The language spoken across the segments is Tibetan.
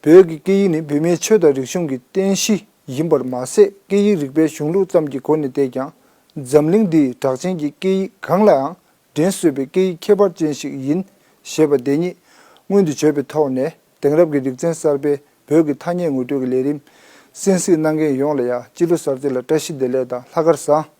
བོད་ཀྱི་སྐད་ཡིག་ནི་བོད་མིའི་ཆོས་དང་རིག་གཞུང་གི་རྟེན་གཞི་ཡིན་པར་མ་ཟད་སྐད་ཡིག་རིག་པའི་གཞུང་ལུགས་ཙམ་གྱི་སྒོ་ནས་བལྟས་ཀྱང་འཛམ་གླིང་འདིའི་གྲགས་ཅན་གྱི་སྐད་ཡིག་གང་ལའང་འགྲན་བཟོད་པའི་སྐད་ཡིག་ཁྱད་པར་ཅན་ཞིག་ཡིན། ཞེས་པ་འདི་ཉིད་མངོན་དུ་བྱེད་པའི་ཐོག་ནས་དེང་རབས་ཀྱི་རིག་ཚན་གསར་པའི་བོད་ཀྱི་ཐ་སྙད་ངོ་སྤྲོད་ཀྱི་ལས་རིམ་གསན་གཟིགས་གནང་མཁན་ཡོངས་ལ་ཡང་སྤྱི་ལོ་གསར་ཚེས་ལ་བཀྲ་ཤིས་བདེ་ལེགས་དང་ལྷ་དཀར་བཟང།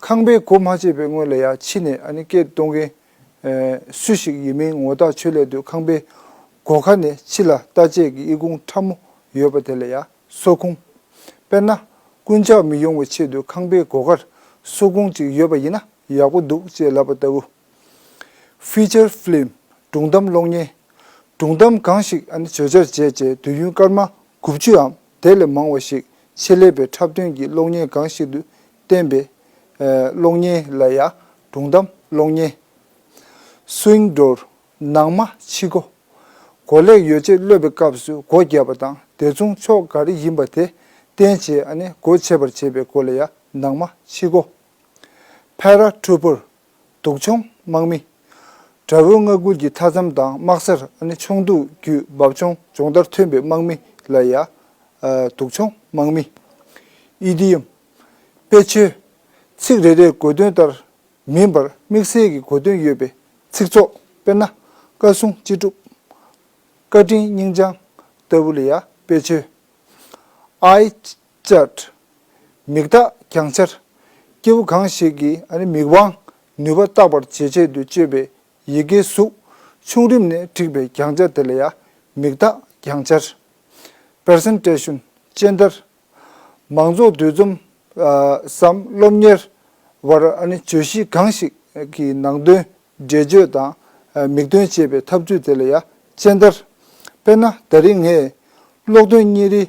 ཁང་པའི་གོ་མ་ཆད་པའི་སྔོན་ལ་ཡང་ཕྱི་ནས་ཨ་ནི་སྐད་གཏོང་མཁན། སུ་ཞིག་ཡིན་མིན་ངོ་ཐག་ཆོད་སླད་དུ་ཁང་པའི་སྒོ་ཁ་ནས་ཕྱི་ལ་ལྟ་དཔྱད་ཀྱི་ཨི་ཁུང་ཕྲ་མོ་ཡོད་པ་དེ་ལ་ཡང་སོ་ཁུང། དཔེར་ན། རྐུན་ཇག་མི་ཡོང་བའི་ཆེད་དུ་ཁང་པའི་སྒོ་ཁར་སོ་ཁུང་ཅིག་ཡོད་པ་ཡིན་ན་ཡག་པོ་འདུག་ཅེས་ལབ་པ་ལྟ་བུ། Feature Film། སྒྲུང་གཏམ་གློག་བརྙན། སྒྲུང་གཏམ་གང་ཞིག་ཨ་ནི་བརྗོད་བྱར་བྱས་རྗེས་དུས་ཡུན་སྐར་མ་དགུ་བཅུའམ་དེ་ལས་མང་བ་ཞིག་ཆེད་ལས་པའི་འཁྲབ་སྟོན་གྱི་གློག་བརྙན་གང་ཞིག་ཏུ་བསྟན་པས། གློག་བརྙན་ལ་ཡང་སྒྲུང་གཏམ་གློག་བརྙན། Swing Door། ནང་མ་ཕྱི་སྒོ། གོ་ལེགས་ཡོ་བྱད་གློད་པའི་སྐབས་སུ་སྒོ་བརྒྱབ་པ་དང་དེ་མཚུངས་ཕྱོགས་ག་རེ་ཡིན་པ་དེ་བསྟན་བྱས་ནས་སྒོ་ཕྱེ་བར་བྱེད་པའི་སྒོ་ལ་ཡང་ནང་མ་ཕྱི་སྒོ། Paratrooper། དུག་མཆོང་དམག་མི། དགྲ་བོའི་མངའ་ཁུལ་གྱི་མཐའ་མཚམས་དང་དམག་སར་མཆོང་དུག་བརྒྱུད་འབབ་མཆོང་སྦྱོང་བརྡར་ཐོན་པའི་དམག་མི་ལ་ཡ། དུག་མཆོང་དམག་མི། Idiom། དཔེ་ཆོས། ཚིག་རེ་རེར་དགོས་དོན་ལྟར་མིན་པར་དམིགས་བསལ་གྱི་དགོས་དོན་ཡོད་པའི་ཚིག་ཚོགས་དཔེར་ན། བཀའ་སྲུང་ཅི་སྒྲུབ། བཀའ་དྲིན་སྙིང་བཅངས། ལྟ་བུ་ལ་ཡ། དཔེ་ཆོས། Idiom། བཅད། མིག་དག་རྒྱང་ཆེར། སྐྱེས་བུ་གང་ཞིག་གིས་མིག་དབང་ནུས་པ་བརྟག་པར་བྱེད་ཆེད་དུ་སྤྱོད་པའི་ཡི་གེའི་གཟུགས། ཆུང་རིམ་ནས་འཁྲིག་པའི་རྒྱང་ཆ་དེ་ལ་ཡང་མིག་དག་རྒྱང་ཆེར། Percentration། ཅེས་འདིར། མང་ཚོགས་འདུས་འཛོམས། སམ་སློབ་གཉེར། བར་བརྗོད་གཞི་གང་ཞིག་གི་ནང་དོན་འགྲེལ་བརྗོད་དང་མིག་སྟོན་བྱེད་པའི་ཐབས་ཚུལ་དེ་ལ་ཡང་ཅེས་འདིར། དཔེར་ན་ད་རིས་ངས། གློག་སྒྲོན་གཉིས་རིས་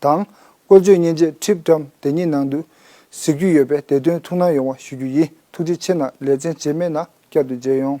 དང། བཀོལ་སྤྱོད་མཉེན་ཆས Trip Term དེ་ཉིད་ནང་དུ། གཟིགས་རྒྱུ་ཡོད་པས་དེ་དོན་ཐུགས་སྣང་ཡོང་བ་ཞུ་རྒྱུ་ཡིན་ཐུགས་རྗེ་ཆེ་ན་ལས་ཚན་རྗེས་མེད་ན་བསྐྱར་དུ་མཇལ་ཡོང།